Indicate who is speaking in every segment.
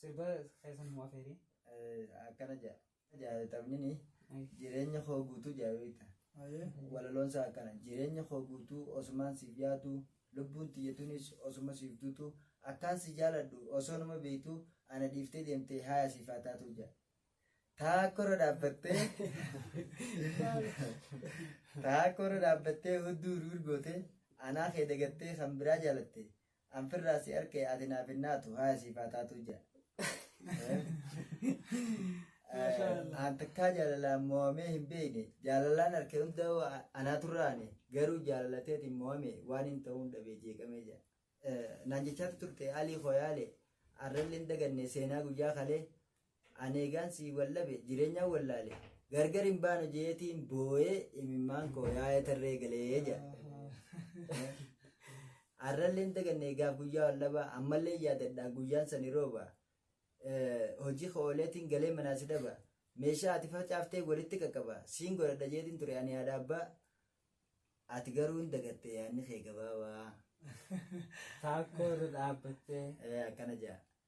Speaker 1: Sirba keessa nu afeeri. akkana
Speaker 2: jaa jaa taphni jireenya koo guutuu jaa beekta walaloon isaa akkana jireenya koo guutuu osumaan siif yaadu lubbuun tiyyatunis osuma siif duutu akkaan si jaaladhu osoo nama beektu ana dhiiftee deemtee haaya siif haa taatu jaa taakkorra dhaabbattee taakkorra dhaabbattee hudduu hiriir gootee anaa kee dagattee kan biraa jaalatte An firraa si arkee ati naaf hin naatu haaya siif haa taatuu jaa. Mashallah. An takkaa jaalalaan mo'amee hin beekne jaalalaan harka hunda anaa turraane garuu jaalalateetiin mo'ame waan hin ta'uun dhabee jeeqamee jaa. Naan jechaa turte alii koo yaale arrallee hin daganne seenaa guyyaa kalee An eegaan sii wallabe jireenyaan wallaale gargar hin baanu jeetiin booyee imimmaan koo yaa'ee tarree galee jedha. Har'allee hin daganne eegaaf guyyaa wallabaa ammallee yaadadha guyyaan sani rooba. Hojii koo ooleetiin galee manaa si dhaba. Meeshaa ati facaaftee walitti qaqqaba siin godhadha jeetiin ture ani haadha abbaa. Ati garuu hin dagatte yaadni kee gabaabaa.
Speaker 1: Taakkoo irra dhaabbattee. Akkana jedha.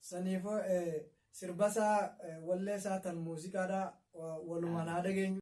Speaker 2: Saniifuu
Speaker 3: sirbasaa walleesaa tan muuziqaadhaa walumaan haa dhageenyu.